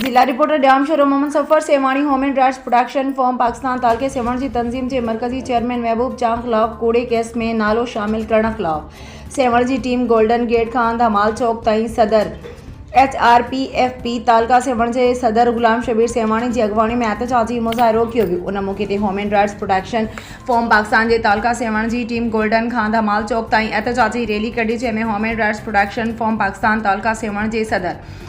ضلع reporter, Jamshoro Muhammad Safar Sehwani human rights protection forum Pakistan تعلقي سيوهڻ جي تنظيم جي مرڪزي چيئرمين محبوب چانگ خلاف ڪوڙي ڪيس ۾ نالو شامل ڪرڻ خلاف سيوهڻ جي ٽيم گولڊن گيٽ کان ڌمال چوڪ تائين صدر H R P F P تعلقه سيوهڻ جي صدر غلام شبير سيوهاڻي جي اڳواڻي ۾ احتجاجي مظاهرو ڪيو ويو ان موقعي تي human rights protection forum Pakistan جي تعلقه سيوهڻ جي ٽيم گولڊن کان ڌمال چوڪ تائين احتجاجي ريلي ڪڍي جنهن ۾ human rights protection forum Pakistan تعلقه سيوهڻ جي صدر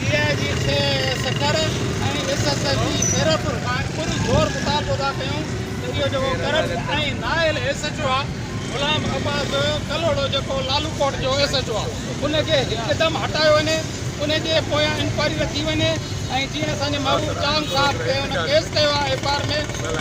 ڊي آء جي سي سکر ۽ ايس ايس ايف جي خيرپور کان پر زور مطالبو ٿا ڪيون ته اهو جيڪو ڪرپٽ ۽ نااهل ايس ايڇ او آهي غلام عباس ڪلهوڙو جيڪو لالوڪوٽ جو ايس ايڇ او آهي ان کي هڪدم هٽايو وڃي ان جي پويان انڪوائري رکي وڃي ۽ جيئن اسان جي محبوب چانگ صاحب تي ان ڪيس ڪيو آهي ايف آر ۾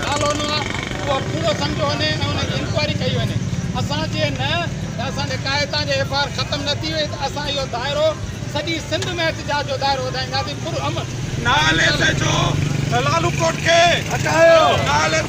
نالو نه آهي اهو ڪوڙو سمجهيو وڃي ۽ ان جي انڪوائري ڪئي وڃي اسان جي نه ته اسان جي قائدان جي ايف آر ختم نه ٿي وئي ته اسان اهو دائرو سڄي سنڌ ۾ احتجاج جو دائرو وڌائينداسين پرامن نالي سيجو لالو ڪوٽ کي هٽايو نالي.